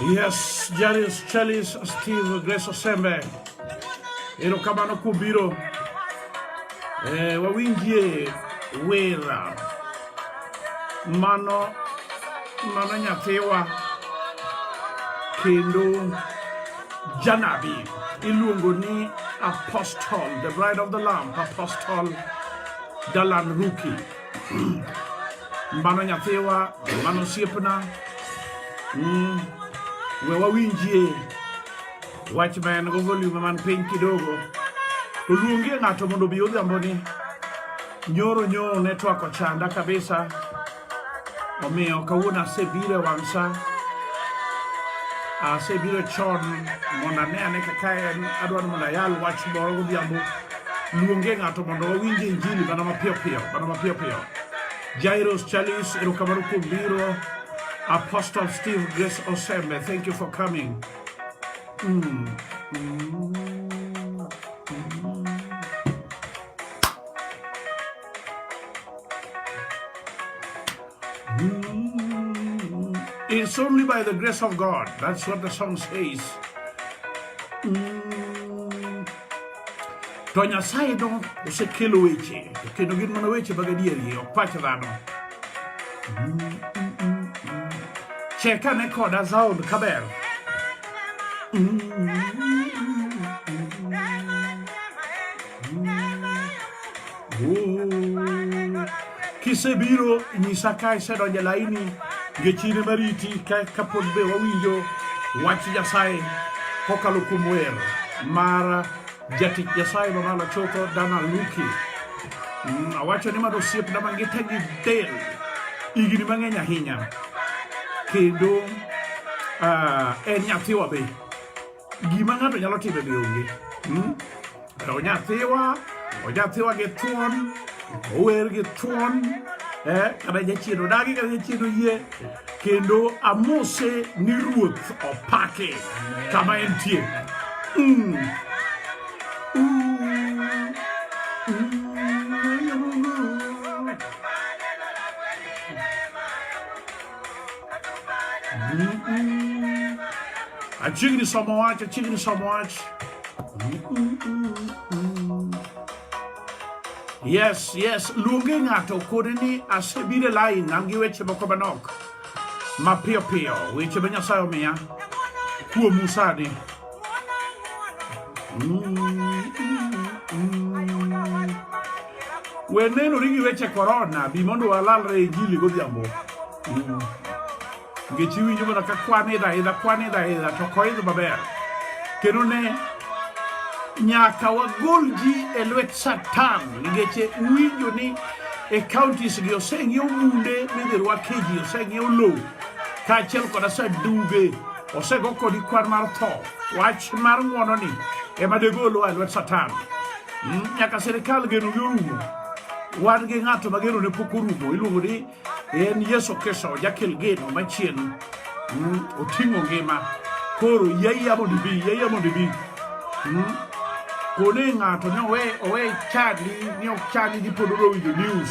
Yes, Janice Chelis, Steve, Grace Osembe. Erokamano kubiro. Eh, wawinjie wera. Mano mano nyathiwa kendo janabi iluongo ni apostle the bride of the lamb apostle dalan ruki mano nyathiwa mano osiepna mm. we wawinjie wach ma en go volume man piny kidogo to luongie ng'ato mondo obi odhiambo ni nyoro nyoro netwak ochanda kabisa Omiyo kawuono asebiro e wang' sa, asebiro chon mondo ane ane kaka en, adwaro mondo ayal wach moro godhiambo. Luonge ng'ato mondo wawinj injili mana mapiyo piyo, mana mapiyo piyo. Jairos Chalis, erokamano kuom biro. Apostle Steve Grace Osembe, thank you for coming. Mm. Mm. It's only by the grace of God. That's what the song says. Mm. To Nyasaye do osekelo weche to kendo gin mana weche mag adieri ok pach dhano. Cheka ne koda sound kaber. Mm. Kisebiro nyisa ka isedonjo e laini ngechine mariti kapod be wawinjo wach Nyasaye kokalo kuom wer mar jatich Nyasaye mamalo chutho Dana Luki. Mm, awacho ni mano osiepna mangita gi del higni mang'eny ahinya kendo ah, en nyathiwa be gima ng'ato nyalo timo be onge hmm? onyathiwa onyathiwa gi thuon ower gi thuon eh, kata jachien odagi kata jachien oyie kendo amose ni ruoth opake kama entie mm. A jigni samawat, a jigni samawat. Yes, yes, luonge ng'ato kode ni asebiro lai nam gi weche moko manok mapiyo piyo, weche ma Nyasaye omiya kuom Musa ni. We neno rigi weche korona bi mondo walalre e jili godhiambo. Mm. Ngechi winjo mana ka kwan idha idha kwan idha idha to koidho maber. Kendo ne nyaka wagol ji e lwet Satan ngeche winjo ni e counties gi oseng'iew bunde midhi rwake ji oseng'iew lowo kaachiel kod asaduge osego kodi kwan mar tho wach mar ng'wono ni ema degolowa e lwet satan hmm, nyaka sirikal geno gi orumo wan gi ng'ato ma geno ne pok orumo iluongo ni en yesu kristo jakel geno machien hmm, oting'o ngima koro yaiya mondo ibi yaiya mondo ibi hmm, kone ng'ato ni owe chadi ni ok chadi ni pod odowinjo news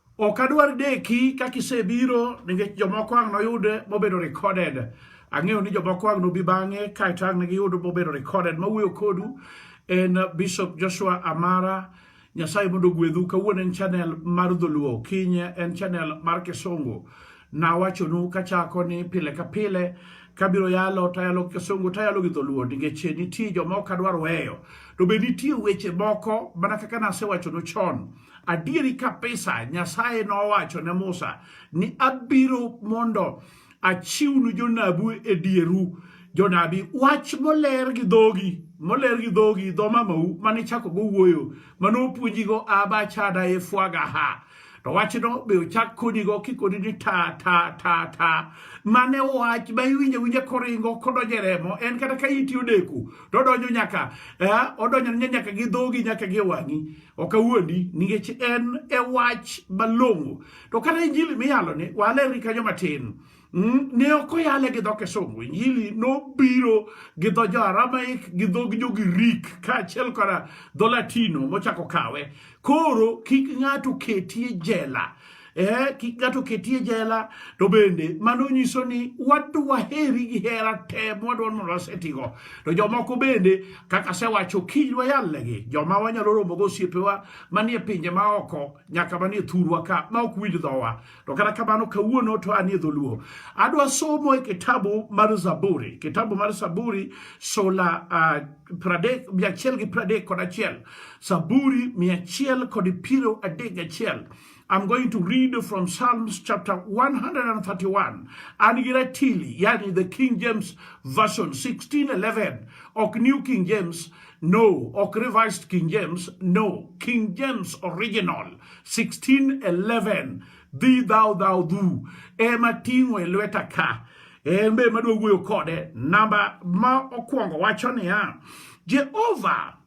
Ok adwar deki kaka isebiro nikech jomoko ang' noyud mobedo recorded. Ang'eyo ni jomoko ang' nobi bang'e kaeto ang' ne giyud mobedo recorded. Mawuoyo kodu en Bishop Joshua Amara. Nyasaye mondo ogwedhu. Kawuono en channel mar Dholuo, kinye en channel mar Kisungu. Nawachonu kachako ni pile ka pile kabiro yalo tayalo kisungu tayalo gi dholuo nikech nitie jomoko adwaro weyo to be nitie weche moko mana kaka nasewacho no chon Adieri kabisa, Nyasaye nowacho ne Musa ni abiro mondo achiwnu jonabu e dieru jonabi wach moler gi dhogi moler gi dhogi dho mamau mane chako go wuoyo mane opuonjigo aba chada e fwaga ha to wachno be ochak konigo kikoni ni ta ta ta ta mane wach ma iwinjo winja koringo kodonjo e remo en kata ka iti odeko to odonjo nyaka eh, odonjo nyaka gi dhogi nyaka gi wang'i ok awuondi nikech en e wach malong'o to kata injili miyaloni walerri kanyo matin mm, ne ok oyale gi dho kisungu injili nobiro gi dho jo aramaik gi dhog jo girik kaachiel koda dho latino mochako kawe koro kik ng'ato ketie jela eh, kik ng'ato ketie jela to bende mano nyiso ni wadwa heri gi hera te mwadwa mondo wasetigo to jomoko bende kaka asewacho kiny wayalnegi joma wanyalo romo go osiepewa manie pinje maoko nyaka manie thurwa ka ma ok winj dhowa to kata kamano kawuono to anie dholuo adwa somo e kitabu mar zaburi kitabu mar zaburi sola uh, ah, pradek mia achiel gi pradek kod achiel zaburi mia achiel kod piero adek gachiel I'm going to read from Psalms chapter 131 and Giratili, yani the King James Version 1611, or New King James, no, or Revised King James, no, King James Original 1611, thee thou thou do, ema tingo elweta ka, embe maduoguyo kode, namba ma okuongo wacho niya, Jehovah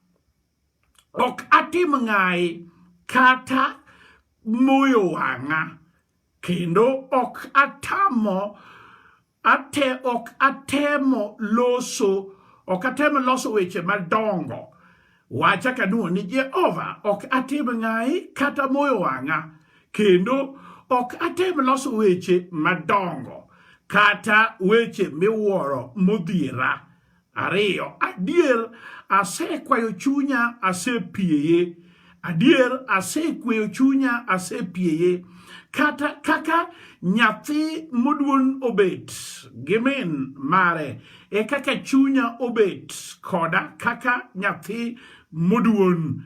ok atim ng'ayi kata moyo wang'a kendo ok atamo ate ok atemo loso ok atemo loso weche madongo wacha kaduo ni Jehova ok atim ng'ayi kata moyo wang'a kendo ok atem loso weche madongo kata weche miwuoro modhiera Ariyo, adier asekwayo chunya asepieye adier asekweyo chunya asepieye kata kaka nyathi moduon obet gi min mare e kaka chunya obet koda kaka nyathi moduon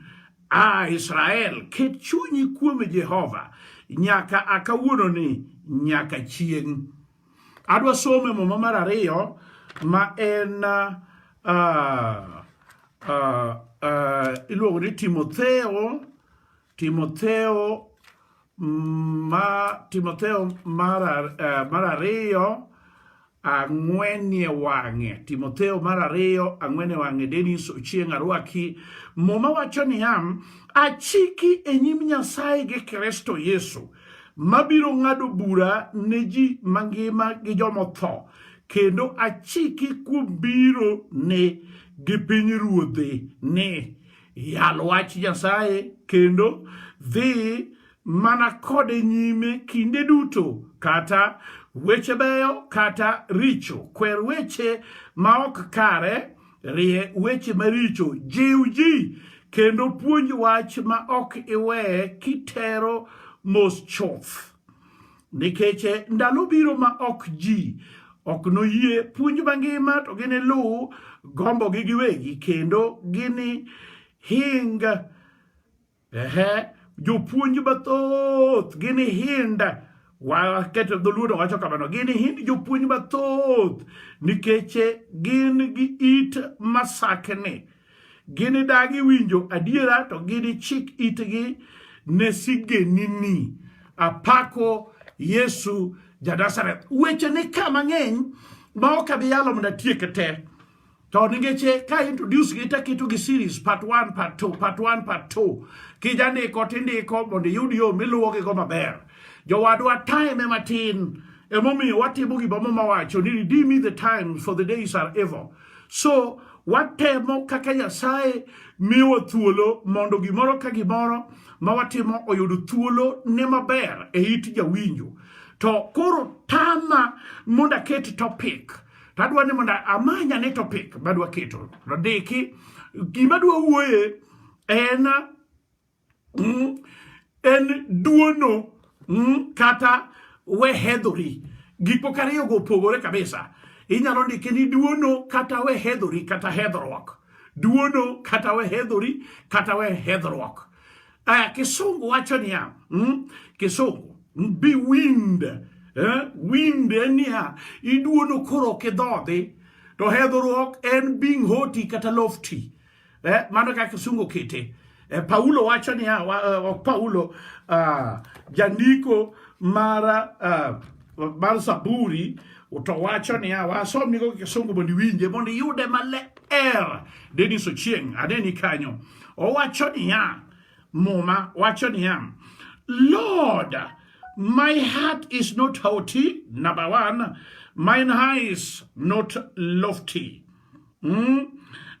a Israel ket chunyi kuom Jehova nyaka akawuononi nyaka chieng' Adwa somo e muma mar ariyo ma en uh, uh, uh, iluongo ni Timotheo Timotheo mm, ma Timotheo mar uh, mar ariyo ang'wenie wang'e Timotheo mar ariyo ang'wene wang'e Denis Ochieng Arwaki muma wacho niya achiki e nyim Nyasaye gi Kristo Yesu mabiro ng'ado bura ne ji mangima gi jomotho kendo achiki kuom biro ne gi piny ruodhe ni yal wach Nyasaye kendo dhi mana kode nyime kinde duto kata weche beyo kata richo kwer weche ma ok kare Rie weche maricho, jiw ji, kendo puonj wach ma ok iwe kitero mos chuth. Nikech eh, ndalo biro ma ok ji ok noyie puonj mangima to giniluw gombogi giwegi kendo gini hinga Ehe, jopuonj mathoth ginihind waketo dholuo to wacho kamano ginihind jopuonj mathoth nikech gin gi it masakni ginidagi winjo adiera to ginichik itgi ne sigenini apako yesu janazareth weche ni ka mang'eny ma ok abi yalo mondo atieke te to ningeche ka introduce gi taketo gi series part 1 part 2 part 1 part 2 kija ndiko tindiko mondo iyud yo miluwo gi go maber jowadwa time matin emomiyo watimo gima mama wacho ni redeem me the time for the days are evil so watemo kaka nyasaye miwa thuolo mondo gimoro ka gimoro ma watimo oyud thuolo ne maber e it jawinjo to koro tama mondo aket topic To adwa ni mondo amanya ni topic madwa keto radiki gima dwa wuoye en mm, en duono mm, kata wehedhori gik moko ariyogo opogore kabisa inyalo ndike ni duono kata wehedhori kata hedhruok duono kata wehedhori kata wehedhruok Uh, kisungu wacho niya mm, kisungu be wind eh, wind en niya iduono koro ok idhodhi to hedhruok en being hoti kata lofty eh, mano kaka kisungu kete eh, paulo wacho niya wa, eh, ok paulo uh, jandiko mara uh, mar Zaburi to wacho niya, wasomnigo gi Kisungu mondo iwinje mondo iyude maler. Dennis Ochieng' ane ni kanyo. Owacho niya, Muma wacho niya, Lord, my heart is not haughty, number one, mine eyes not lofty. Mm?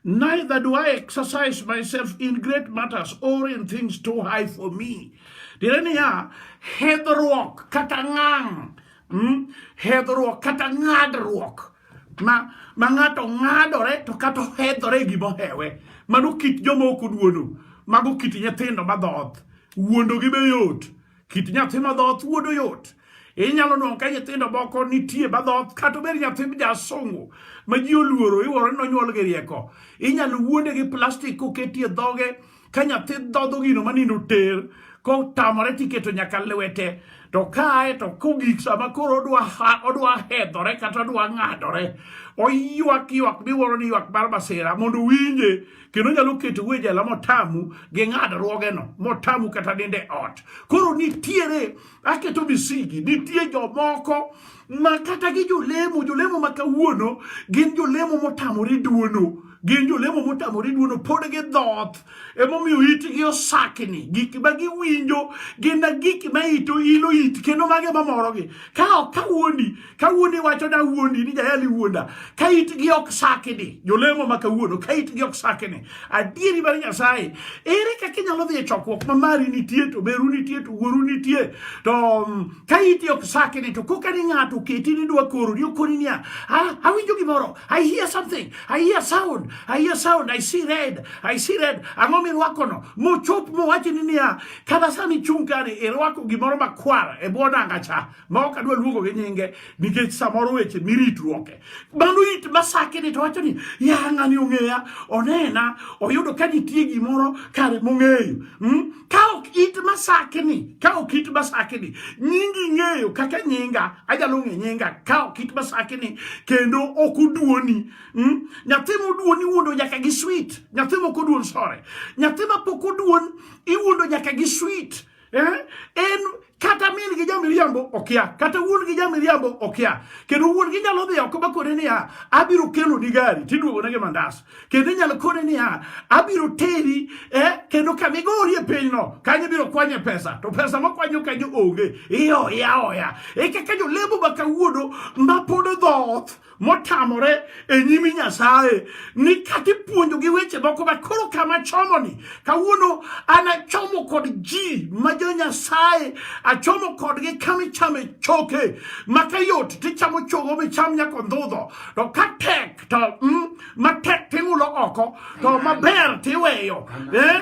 Neither do I exercise myself in great matters or in things too high for me. Tiende niya, hedhruok kata ngang', mm? hedhruok kata ng'adruok ma ma ng'ato ng'adore to kata ohedhore e gima ohewe mano kit joma ok oduono mago kit nyithindo madhoth wuondogi be yot kit nyathi madhoth wuodo yot inyalo nuang' ka nyithindo moko nitie madhoth kata obed nyathi jasungu ma ji oluoro iwuoro ni nonyuol gi rieko inyalo wuonde gi plastik koketie dhoge ka nyathi dhodho gino manindo ter kotamore tiketo nyaka lwete to kae to kogik sama koro odwa odwa hedhore kata odwa ng'adore oywak ywak miwuoro ni ywak mar masira mondo winje kendo nyalo keto we jela motamu gi ng'adruogeno motamu kata ninde ot koro nitiere aketo misigi nitie jomoko ma kata gi jolemo jolemo ma kawuono gin jolemo motamore duono gin jolemo motamore duono pod gidhoth emomiyo itgi osakni gik ma giwinjo gin na gik ma ito ilo it kendo mage mamorogi ka ok kawuondi ka wuondi iwacho da wuondi ni jayali wuonda ka itgi ok sakini jolemo ma kawuono ka itgi ok sakini adieri mar nyasaye ere kaka inyalo dhi e chokruok ma mari nitie to beru nitie to wuoru nitie to mm, ka iti ok sakini to koka ni ng'ato oketi ni dwa koro ni okoni niya ah, awinjo gimoro i hear something i hear sound i hear sound i see red i see red ang'o mirwakono mochop mowachi ni niya kata sani chung' kani irwako gimoro makwar e bwo nanga cha ma ok adwa luongo gi nyinge nikech samoro weche miritruoke mano it masake ni to wacho ni ya ng'ani ong'eya onena oyudo ka nitie gimoro kare mong'eyo hmm? ka ok it masake ni ka ok it masake ni nyingi ng'eyo kaka nyinga ajalo ng'e nyinga ka ok it masake ni kendo ok oduoni hmm? nyathi moduoni wuondo nyaka gi sweet nyathi mok oduon sore nyathi mapok oduon iwuondo nyaka gi sweet Eh? En kata min gi jamiriambo okia kata wuon gi jamiriambo okia kendo wuon gi nyalo dhi oko bakone niya abiro kelo ni gari tiduogo ne gi mandas kendo inyalo kone niya abiro teri eh, kendo kama igori e pinyno kanyo ibiro kwanye pesa to pesa makwanyo kanyo onge ioya oya e kaka jolemo ma kawuono mapod dhoth motamore e nyimi Nyasaye ni kata ipuonjogi weche moko but koro kama chomoni kawuono an achomo kod ji ma jo Nyasaye achomo kodgi kama ichame choke maka yot tichamo chogo micham nyaka ondhudho to ka tek to mm, matek ting'ulo oko to maber tiweyo eh,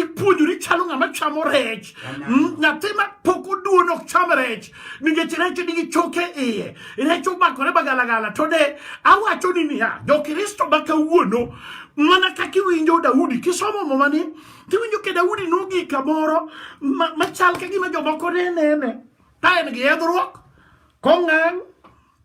ipuonjori chalo ng'ama chamo rech mm, nyathi ma pok oduon ok cham rech nikech rech nigi choke iye rech omakore magalagala to de awacho ni niya jokristo ma kawuono mana kaka iwinjo daudi kisomo momani tiwinjo ke daudi nogik kamoro machal ka gima jomoko ne nene ka en gi yedhruok kong'ang'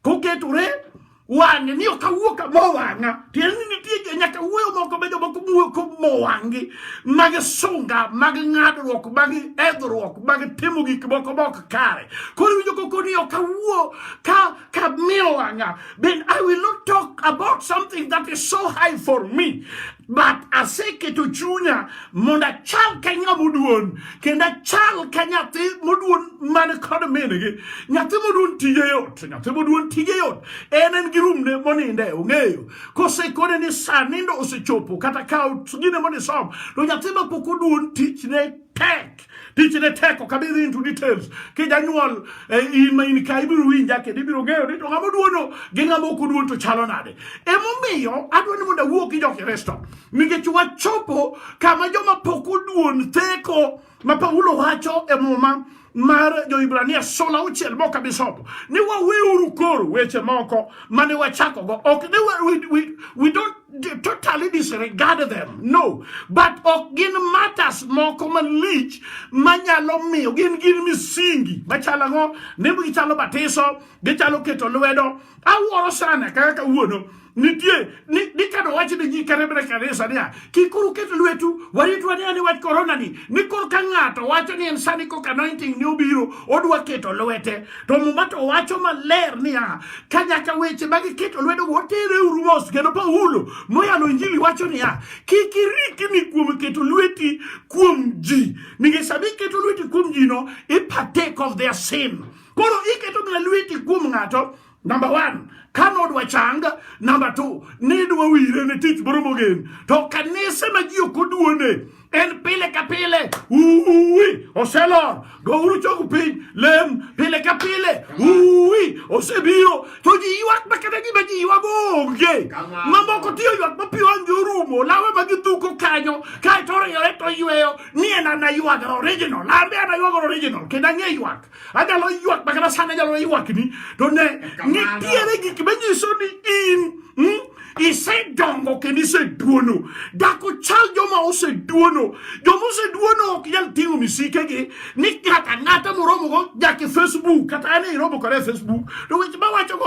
koketore wang'e ni ok awuo ka mowang'a tiende ni nitie nyaka wuoyo moko be jomoko wuoyo ko mowang'gi mag sunga mag ng'adruok mag edhruok mag timo gik moko mok kare koro winjo koko ni ok awuo ka ka mowang'a then i will not talk about something that is so high for me but aseketo chunya mondo achal ka ng'ama oduon kendo achal ka nyathi moduon man kod mingi nyathi moduon tije yot nyathi moduon tije yot en en gi rumne moninde ong'eyo kosekone ni sa nindo osechopo kata ka gine monisom to nyathi ma pok oduon tichne tek tichne tek ok abi into details kijanyuol eh, in ma in ka ibiro winja kendo ibiro ng'eyo ni to ng'ama oduono gi ng'ama ok oduon to chalo nade emomiyo adwa ni mondo awuo gi jo-kristo nikech wachopo kama joma pok oduon theko ma Paulo wacho e muma mar Joibrania sula auchiel mok abi somo ni waweuru koro weche moko mane wachakogo ok ni we, we, we don't totally disregard them no but ok gin matters moko malich manyalo miyo gin gin misingi machalo ang'o ni gichalo batiso gichalo keto lwedo awuoro sana kaka kawuono nitie ni, ni kano wach ni ji kata bena kanisa niya kik koro uket lwetu waritwa ni ani wach korona ni ni koro ka ng'ato wacho ni en sani kok anointing ni obiro odwa keto lwete to muma to wacho maler niya ka nyaka weche ma giketo lwedo wotere uru mos kendo paulo moyalo injili wacho niya kik irikni kuom keto lweti kuom ji nikech sama iketo lweti kuom ji no i partake of their sin koro iketo mana lweti kuom ng'ato Number one, ka nodwa chang. Number two, nidwa wire ne tich moro mogen. To kanise ma ji ok oduone en pile ka pile uwi oselor gouru chogu piny lem pile ka pile uwi osebiro to ji ywak ma kata gima ji ywago onge mamoko tiyo ywak ma piwa nge orumo lawe ma gidhuko kanyo kaeto oriyore to yweyo ni en ana ywagre original lambe ana ywagre original kendo ang'e ywak Anyalo ywak makata sana anyalo ywak ni to ne nitiere gik manyiso ni in hmm, isedongo kendo iseduono dak ochal joma oseduono joma oseduono ok nyal ting'o misikegi ni ng'ato ang'ata moromogo jake facebook kata an iromo kode e facebook to weche mawachogo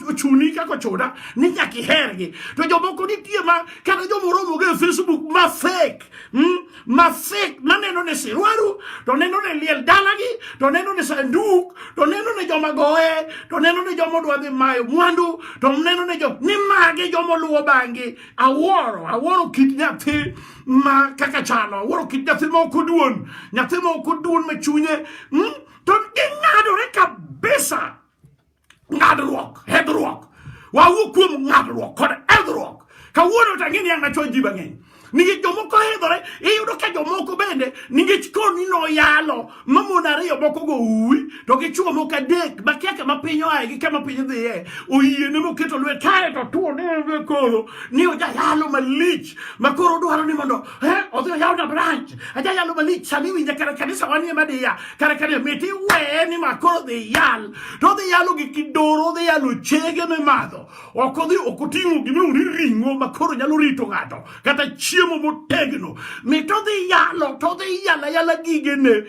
ochuni kaka ochuna ni nyaka ihergi to jomoko nitie ma kata joma oromogo e facebook ma fake hmm? masik maneno ne siruaru to neno ne liel dalagi to neno ne sanduk to neno ne joma goye to neno ne joma odwa dhi mayo mwandu to neno ne jo ni magi joma oluwo bangi awuoro awuoro kit nyathi ma kaka chalo awuoro kit nyathi ma ok oduon nyathi ma ok oduon ma chunye hmm? to ging'adore kabisa ngadruok hedruok wawuo kuom ngadruok kod hedruok kawuono to ang'e ni an nachuo ji mang'eny nikech jomoko hedhore iyudo ka jomoko bende nikech koni noyalo mamon ariyo moko go uwi to gi chuo moko adek makia kama piny oaye gi kama piny dhiye oyie ne moketo lwet kae to tuo ne koro ni ojayalo malich makoro dwaro ni mondo Eh, odhi yaw na branch aja yalo malich sani winja kara kanisa wanie madhi ya kara kanisa miti weye ni ma koro dhi yal to odhi yalo gi kidoro odhi yalo chege mimadho ok odhi ok oting'o gima uri ring'o ma koro nyalo rito ng'ato kata chiemo motegno mito dhi yalo to dhi yala yala gigene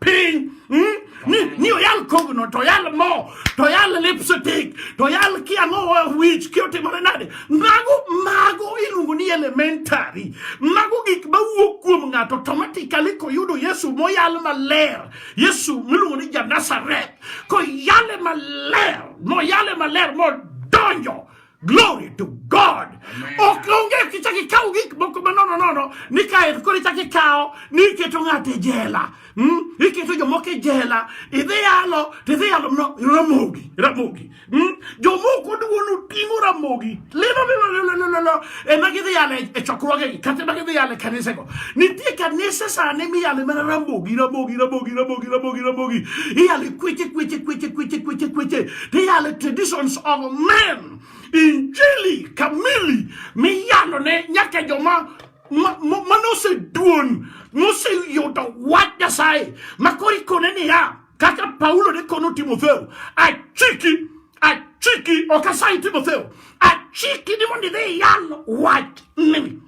piny mm? ni, ni oyal kogno to oyal mo to oyal lipstick to oyal kiang'o wich ki otimore nade mago mago iluongo ni elementary mago gik mawuok kuom ng'ato automatically koyudo yesu moyal maler yesu miluongo ni janasaret koyale maler moyale maler modonjo Glory to God. Ok onge kichak ikaw gik moko manono nono ni kae koro ichak ikawo ni iketo ng'ato e jela. Mm? Iketo jomoko e jela, idhi yalo, to idhi yalo no, ramogi, ramogi. Mm? Jomoko duono ting'o ramogi. Lilo lilo lilo lilo lilo. Ema gidhi yalo e chokruogegi, kata ema gidhi yalo e kanisego. Nitie kanise sani miyale mana ramogi, ramogi, ramogi, ramogi, ramogi, ramogi. Iyale kweche kweche kweche kweche kweche kweche. They are the traditions of men. Injili kamili miyalo ne nyaka joma manoseduon moseyudo wach Nyasaye makoro ikone niya kaka Paulo ne kono Timotheo achiki achiki ok asayi Timotheo achiki ni mondo idhi iyal wach ni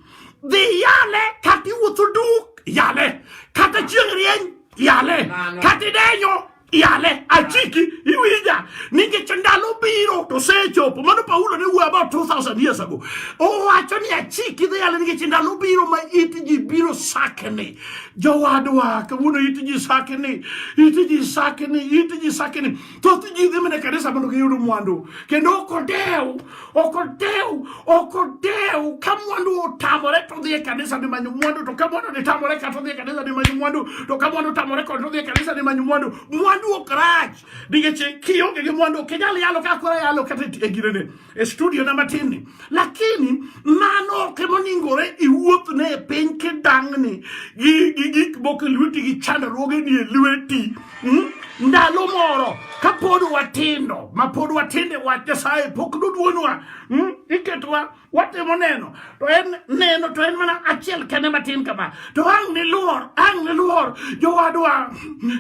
dhi yale kata iwuotho duk yale kata chieng' rieny yale kata idenyo yale achiki iwija nikech ndalo biro to sechopo mano paulo ne wuoyo about 2000 years ago owacho ni achiki dhi yale nikech ndalo biro ma it ji biro sakni jowadwa kawuono it ji sakni it ji sakni it ji sakni thoth ji dhi mana e kanisa mondo giyud mwandu kendo ok odew ok odew ok odew ka mwandu otamore to odhi e kanisa ni manyo mwandu to ka mwandu ni tamore kata odhi e kanisa ni manyo mwandu to ka mwandu tamore kod odhi e kanisa ni manyo mwandu mwandu ok rach nikech kionge gi mwandu ok inyal yalo ka kora yalo kata e girene e studio na matin ni lakini mano ok emoningore iwuothne e piny kidang'ni gi gik moko e lweti gi chandruoge ni e lweti Mm? Ndalo moro kapod watindo mapod watinde wach Nyasaye pok duduonwa mm? iketwa watimo neno to en neno to en mana achiel kende matin kama to ang' niluor ang' niluor jowadwa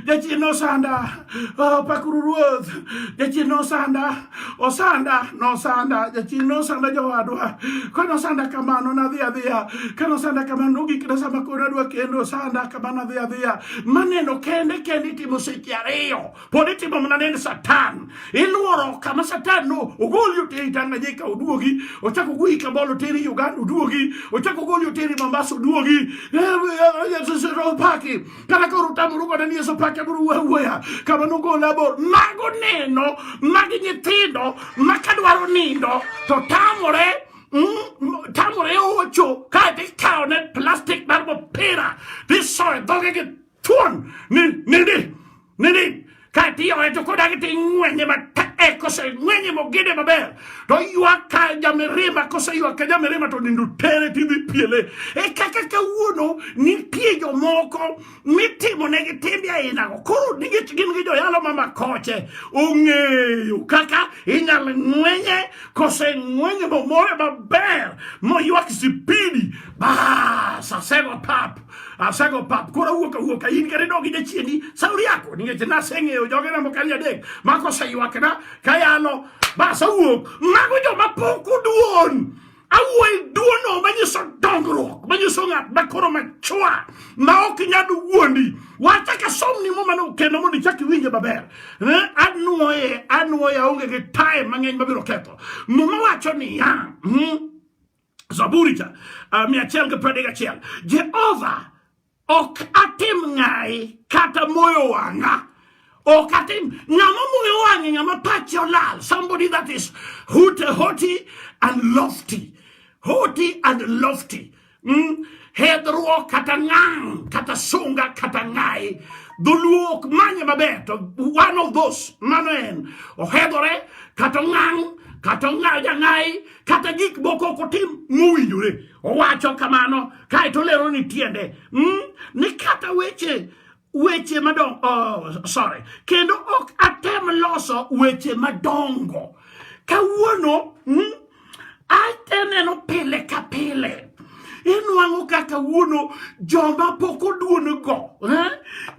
jachien osanda oh, pakuru ruoth jachien osanda osanda nosanda jachiny nosanda jowadwa ka nosanda kamano nadhi adhiya ka nosanda kamano nogik na sama koro adwa kendo osanda kamano adhi adhiya maneno kende kende itimo seche ariyo pod itimo mana nend satan iluoro kama satan no ogoli oteri tanganyika oduogi ochak ogoli kabol oteri uganda oduogi ochak ogoli oteri mombasa oduogi opaki kata ka orutamuru kode ni yeso pake buru wuoya wuoya kama nogola bor mago neno magi nyithindo ma kadwaro nindo to tamore mm, tamore ocho kae tikawone plastik mar mopira tisoe dhoge gi thuon ni nini nini Ka tiore to kodagi to ing'wenye matek koseng'wenye mogede maber to ywak ka jamirima koseywak ka jamirima to nindo tere tidhi piele e kaka kawuono nitie jomoko mitimonegi timbe ainago koro nikech gin gi joyalo ma makoche ong'eyo kaka inyalo ng'wenye koseng'wenye momore maber moywak sipidi bas asego pap Asego pap koro wuok awuok ka in kare dogi jachiendi sauri yako nikech naseng'eyo joge na mokali adek ma koseywakna kayalo bas awuok mago joma pok oduon awuoyo duono manyiso dongruok manyiso ng'at makoro machwa ma ok nyal wuondi wacha ka somni mo mano kendo mondo ichak iwinje maber eh, anwoye anwoye aonge gi time mang'eny mabiro ketho muma wacho niya hmm, Zaburi cha uh, mia achiel gi piero adek achiel Jehova ok atim ng'ayi kata moyo wang'a ok atim ng'ama moyo wang'e ng'ama pache olal somebody that is hute hoti and lofty hoti and lofty mm? hedhruok kata ngang' kata sunga kata ng'ayi dholuo ok manye maber to one of those mano en ohedhore kata ngang' kata ng'ayi kata gik moko ok otim mowinjore owacho kamano kae to lero ni tiende mm, ni kata weche weche madongo oh, sorry kendo ok atem loso weche madongo kawuono mm, ateneno pile ka pile inwang'o ka kawuono joma pok oduon go eh?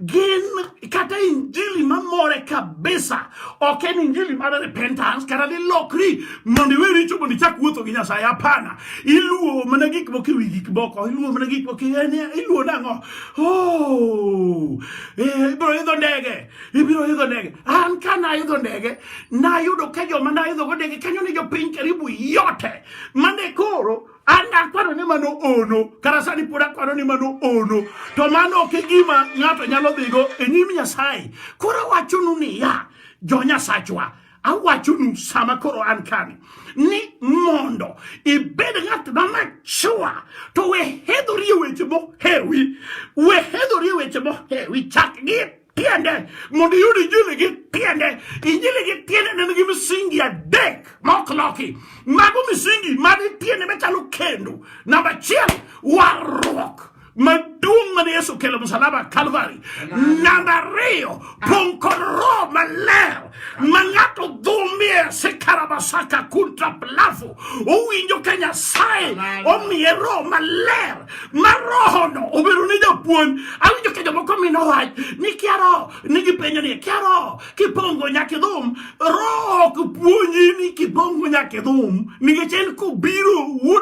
gin kata injili mamore kabisa ok en injili mar repentance kata ni lokri mondo iwe richo mondo ichak wuotho gi nyasaye hapana iluwo mana gik moko ewi gik moko iluwo mana gik moko iluwo nang'o oh, eh, ibiro idho ndege ibiro idho ndege an ka naidho ndege nayudo ka joma naidhogo ndege kanyo ni jopiny karibu yote mane koro an akwaro ni mano ono kata sani pod akwaro ni mano ono to mano ok e gima ng'ato nyalo dhigo e nyim nyasaye koro awachonu niya jo nyasachwa awachonu sama koro an kani ni mondo ibed ng'at ma machua to we hedhori e weche mohewi we hedhori e weche mohewi chak gi tiende mondo iyud injili gi tiende injili gi tiende ne nigi misingi adek ma ok loki mago misingi mag tiende machalo kendo namba achiel warruok maduong' mane yesu kelo msalaba kalvari namba ariyo pong' kod roho maler ma ng'ato dhumie sikarabasaka kuntra plavu owinjo ka nyasaye omiye roho maler ma rohono obedo ne japuonj awinjo ka jomoko mino wach ni kia roho nigipenjo ni kia roho kipongo nyaka idhum roho ok puonji ni kipongo nyaka idhum nikech en kobiro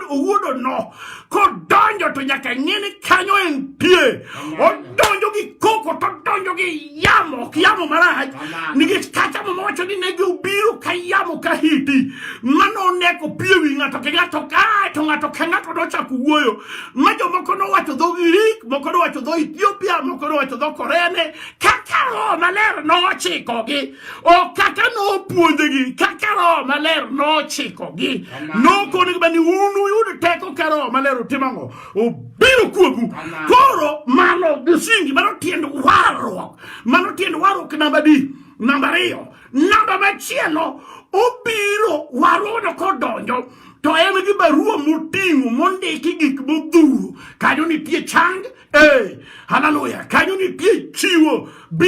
owuodo no kodonjo to nyaka ng'e ni kanyo entie odonjo gi koko to odonjo gi yamo ok yamo marach nikech kata mama wacho ni ne giobiro ka yamo ka hiti mano oneko pie wi ng'ato ke ng'ato kae to ng'ato ke ng'ato nochako wuoyo ma jomoko nowacho dho Grik moko nowacho dho Ethiopia moko nowacho dho Korea ne kaka roho maler nochikogi o kaka nopuonjegi kaka roho maler nochikogi nokonegi bani un uyud teko ka roho maler utim ang'o obiro kuomu koro mano msingi mano tiend warruok mano tiend warruok namba di namba ariyo namba machielo obiro warono kodonjo to en gi barua moting'o mondiki gik modhuro kanyo nitie chang e haleluya kanyo nitie chiwo b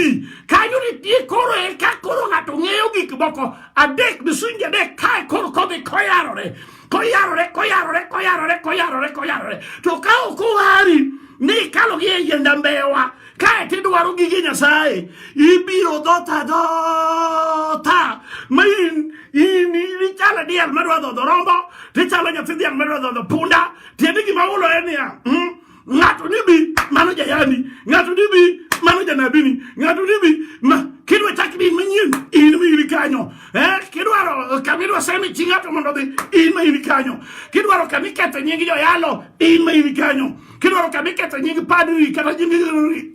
kanyo nitie koro e ka koro ng'ato ng'eyo gik moko adek misingi adek kae koro kodhi koyarore koyarore koyarore koyarore koyarore koyarore to ka ok owari ni ikalo gi e yienda mbewa kae to idwaro gige nyasaye ibiro dhota dhota ma in in ichalo diel madwa dhodho rombo tichalo nyathi dhiang' madwa dhodho punda tiende gima ulo en niya mm, ng'ato ni bi mano jayani ng'ato ni bi mano janabini ng'ato ni bi ma kidwa chak din manyien in ma in kanyo eh kidwaro kama idwa semi chi ng'ato mondo dhi in ma in kanyo kidwaro kama iketho nying joyalo in ma in kanyo kidwaro kama iketho nying padri kata nying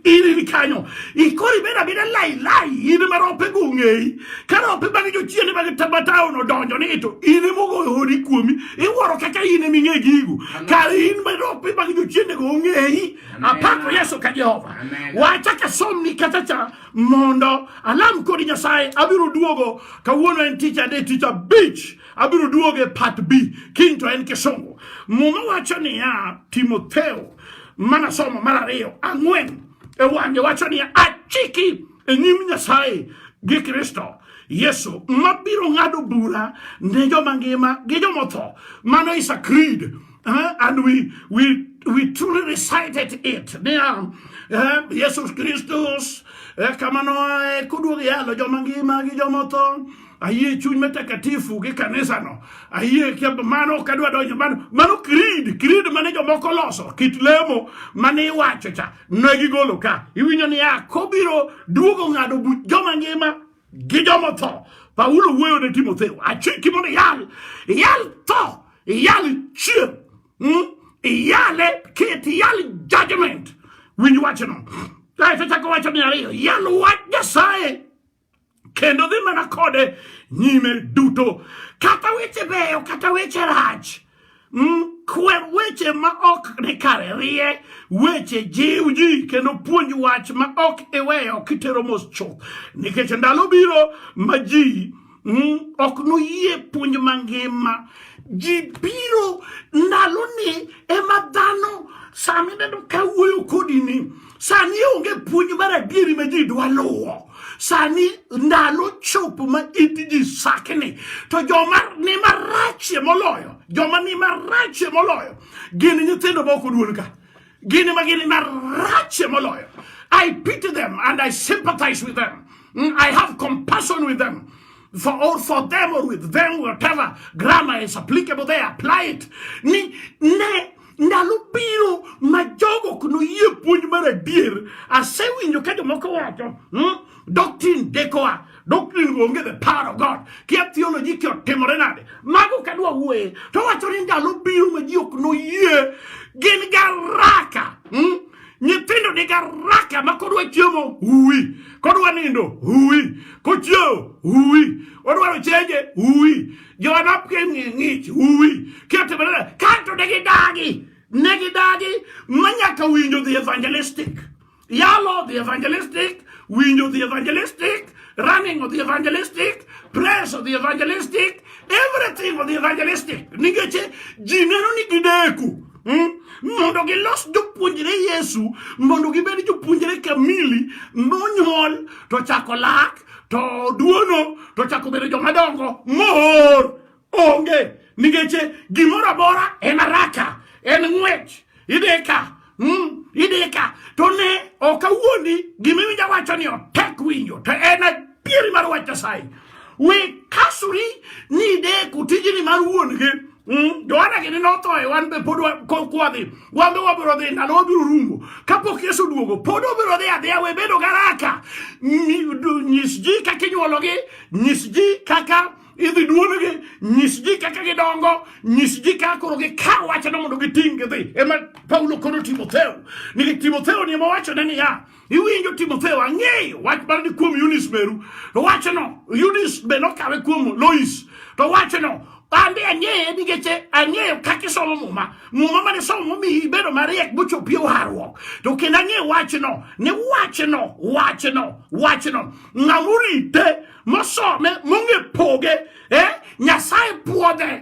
in in kanyo ikori beda beda lai lai in ma rompe gungei Kane opima ni jochiende mag Tabatao odonjo ni to in ema ogoyo hodi kuomi, iwuoro kaka in ema ing'e gigo. Kar in ma opima gi jochiende go ong'eyi, apako Yesu ka Jehova. Wacha ka somni kata cha mondo alam kodi Nyasaye, abiro duogo kawuono en tich ade tich abich, abiro duogo e part B, kiny to en kisungu. Muma wacho niya, Timotheo, mana somo mar ariyo, ang'wen, e wang'e wacho niya, achiki e nyim Nyasaye gi Kristo Yesu mabiro ng'ado bura ne joma ngima gi jomotho. Mano is a creed. Uh, and we, we, we truly recited it. Niya, uh, Yesus Kristus, uh, eh, kamano ae kuduog yalo joma ngima gi jomotho. Ayie chuny matakatifu gi kanisano. Ayie mano ok adwa donjo mano. Mano creed, creed mane jomoko loso, kit lemo mane iwacho cha. ne gigolo ka iwinjo ni ya kobiro duogo ng'ado buch joma ngima gi joma tho paulo wuoyo ne timotheo achiki mondo iyal iyal tho iyal chier hmm? iyale ket iyal judgment winj wachno kaeto chako wacho ni ariyo iyal wach nyasaye kendo dhi mana kode nyime duto kata weche beyo kata weche rach mm, kwer weche ma ok ni kare rie weche jiw ji kendo puonj wach ma ok iweyo kitero mos chuth nikech ndalo biro ma ji mm, ok noyie puonj mangima ji biro ndaloni ema dhano sami neno ka wuoyo kodi ni Sani onge puonj mar adieri ma ji dwa luwo. Sani ndalo chopo ma it ji sakni. To joma ni marachie moloyo, joma ni marachie moloyo, gin nyithindo ma ok oduol ka. Gin ma gin marachie moloyo. I pity them and I sympathize with them. Mm, I have compassion with them. For or for them or with them, whatever grammar is applicable, they apply it. Ni, ne, ndalo biro ma jogo ok noyie puonj mar adier asewinjo ka jomoko wacho hmm? doctrine dekoa doctrine onge the power of god kia theology kia otimore nade mago kadwa wuoye to wacho ni ndalo biro ma ji ok noyie gin garaka hmm? nyithindo ni garaka ma kodwa chiemo uwi kodwa nindo uwi kochiewo uwi odwaro chenje uwi Joma nopiem ng'e ng'ich uwi keto bela kanto ne gidagi ne gidagi ma nyaka winjo the evangelistic yalo the evangelistic winjo the evangelistic running of the evangelistic praise of the evangelistic everything of the evangelistic nikech ji neno ni gideku hmm? mondo gilos jopuonjre yesu mondo gibed jopuonjre kamili monyuol to chako lak to duono to chako bedo joma dongo mor onge nikech gimoro amora en araka en ng'wech ideka mm, ideka to ne ok awuondi gima iwinja wacho ni otek winjo to en adieri mar wach nyasaye we kasuri ni ideko tijni mar wuon gi Mm, Johana gini notho e wan be pod kwadhi wan be wabiro dhi ndalo wabiro rumo kapok Yesu duogo pod wabiro dhi adhiya we bedo garaka nyis ji kaka inyuologi nyis ji kaka idhi duolgi nyis ji kaka gidongo nyis ji kaka koro gikaw wachno mondo giting' gidhi ema Paulo kono Timotheo ni Timotheo ni ema wachone niya Iwinjo Timotheo, ang'eyo wach mar ni kuom Eunice meru, to wachno Eunice be nokawe kuom Lois, to wachno Ande ang'eye nikech ang'eyo kaka isomo muma muma mane somo momiyi ibedo mariek mochopi warruok to kendo ang'eyo wachno ni wachno wachno wachno ng'amorite mosome mong'e poge eh? nyasaye puodhe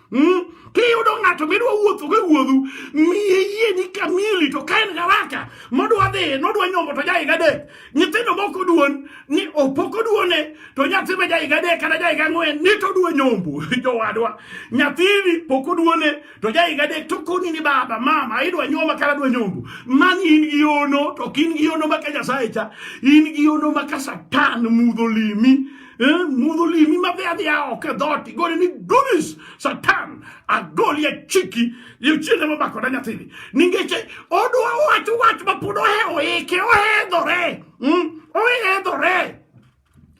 Hmm? Kiyudo ng'ato midwa wuotho go wuodhu, miye yie ni kamili to ka en garaka modwa dhi nodwa nyombo to jaiga adek. Nyithindo moko duon ni opoko duone to nyathi be jaiga adek kata jaiga ang'wen ni to dwa nyombo jowadwa. Nyathini poko duone to jaiga adek to koni ni baba mama idwa nyoma kata dwa nyombo. Mani in gi ono to kin gi ono maka Nyasaye cha. In gi ono maka Satan mudho limi. Eh, mudho limi madhiadhia oko e dhoti gole ni dunis satan agoli e chiki yuchiende mabako da nyathini ningeche odwa wacho wach ma pod ohe oike ohedhore mm? ohedhore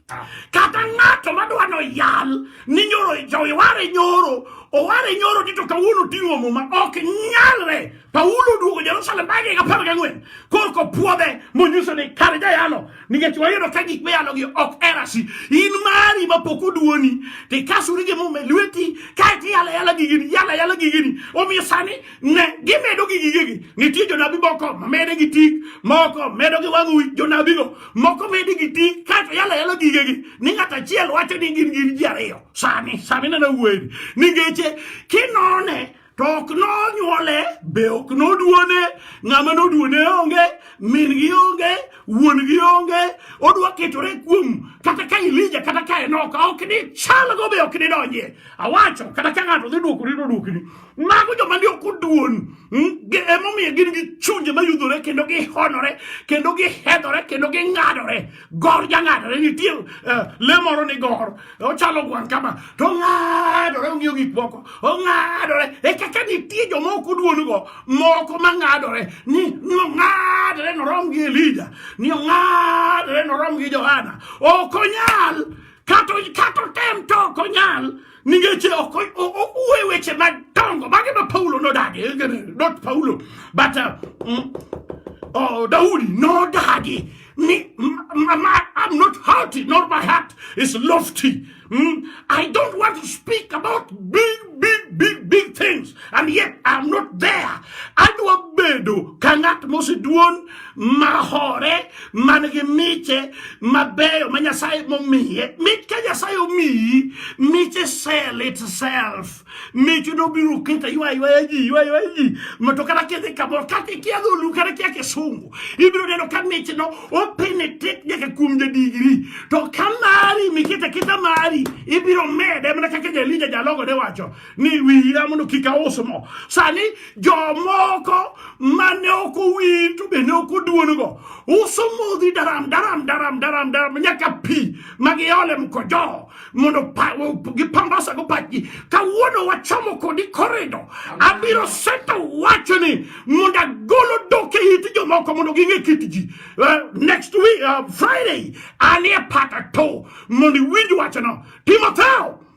ah. kata ng'ato madwa no yal ni nyoro joware nyoro oware nyoro tito kawuono ting'o muma ok nyalre Paulo oduogo Jerusalem bang' higa apar gang'wen korka opwodhe monyiso ni kare jayalo nikech wayudo ka gik miyalogi ok erasi in mari ma pok oduoni to ikasuri gi muma e lweti kae to iyala yala gigini yala yala gigini omiyo sani ne gimedo gi gigegi nitie jonabi moko mamede gi tik moko medo gi wang' wi jonabigo moko mede gi tik kae to yala yala gigegi ni ng'at achiel wacho ni gin gin ji ariyo sani sani nana wuoyeni ningeche kinone to ok nonyuole be ok noduone ng'ama noduone onge min gi onge wuon gi onge odwa ketore kuom kata ka ilija kata ka enoka ok ni chalgo be ok ni donjie awacho kata ka ng'ato dhi duokori to duokni mago joma ni ok oduon hmm, emomiyo gin gi chunje mayudhore kendo gihonore kendo gihedhore kendo ging'adore gor jang'adore nitie uh, le moro ni gor ochalo gwan kama to ong'adore ong'iyo gik moko ong'adore e kaka nitie joma ok oduongo moko mang'adore ni ni ong'adore norom gi elija ni ong'adore norom gi johana ok onyal kata otem to ok onyal Ningeche uwe weche madongo mage ma Paulo nodagi, not Paulo, but uh, mm, oh, Daudi nodagi ni my, I'm not haughty, nor my heart is lofty. Mm? I don't want to speak about big, big, big, big things, and yet I'm not there. Adwa bedo ka ng'at moseduon mahore man gi miche mabeyo ma Nyasaye momiye. Mit ka Nyasaye omiyi miche sell itself. Miche nobiro keta ywa ywa ji ywa ywa ji mato kata kidhi kamoro kata ikia dholu kata ikia kisungu ibiro neno ka miche no openetrate nyaka kuom jadigri to ka mari mikete keta mari ibiro mede mana kaka Jalija jalogo ne wacho ni wira mondo kik aus mo. Sani jomoko mane ok owir to bende ok oduon-go uso modhi daram daram daram daram daram nyaka pi ma giole mkojo mondo gipambasago pachgi. Kawuono wachomo kodi korido, abiro seto wachoni mondo agolo dok e it jomoko mondo ging'e kit ji. Eh, next week, uh, Friday, anie pata to mondo iwinj wachno. Timotheo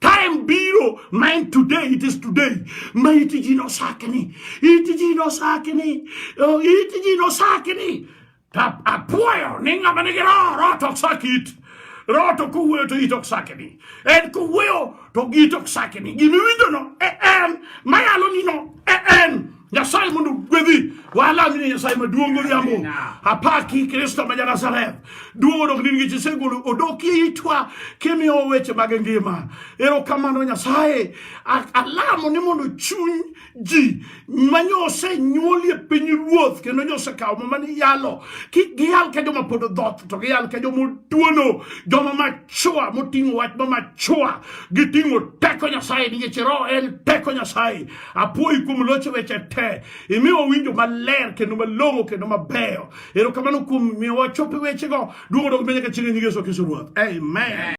Time biro ma en today, it is today. Ma iti ji nosakni, iti ji nosakni, oh, iti ji nosakni. Ta apuoyo ni ng'ama nigi roho, roho to ok sak it. Roho to kowuoyo to it ok sakni. En kowuoyo to it ok sakni. Gimiwinjono e en, mayalonino e en. Nyasaye mondo gwedhi wala mine Nyasaye maduong' godhiambo apaki Kristo ma Janazareth duong' odok nini nikech isegolo odok itwa kimiyo weche mag ngima erokamano Nyasaye alamo ni mondo chuny ji manyo osenyuoli e piny ruoth kendo nyo osekawo mama ni yalo kik giyal ka joma pod odhoth to giyal ka joma otuono joma machua moting'o wach ma machua giting'o teko Nyasaye nikech roho en teko Nyasaye Apuoyi kuom locho weche te. Imiyo wawinjo maler kendo malong'o kendo mabeyo. Erokamano kuom miyo wachope wechego. Duogo dog menyaka chieng' e nyingeso kiso ruoth. Amen.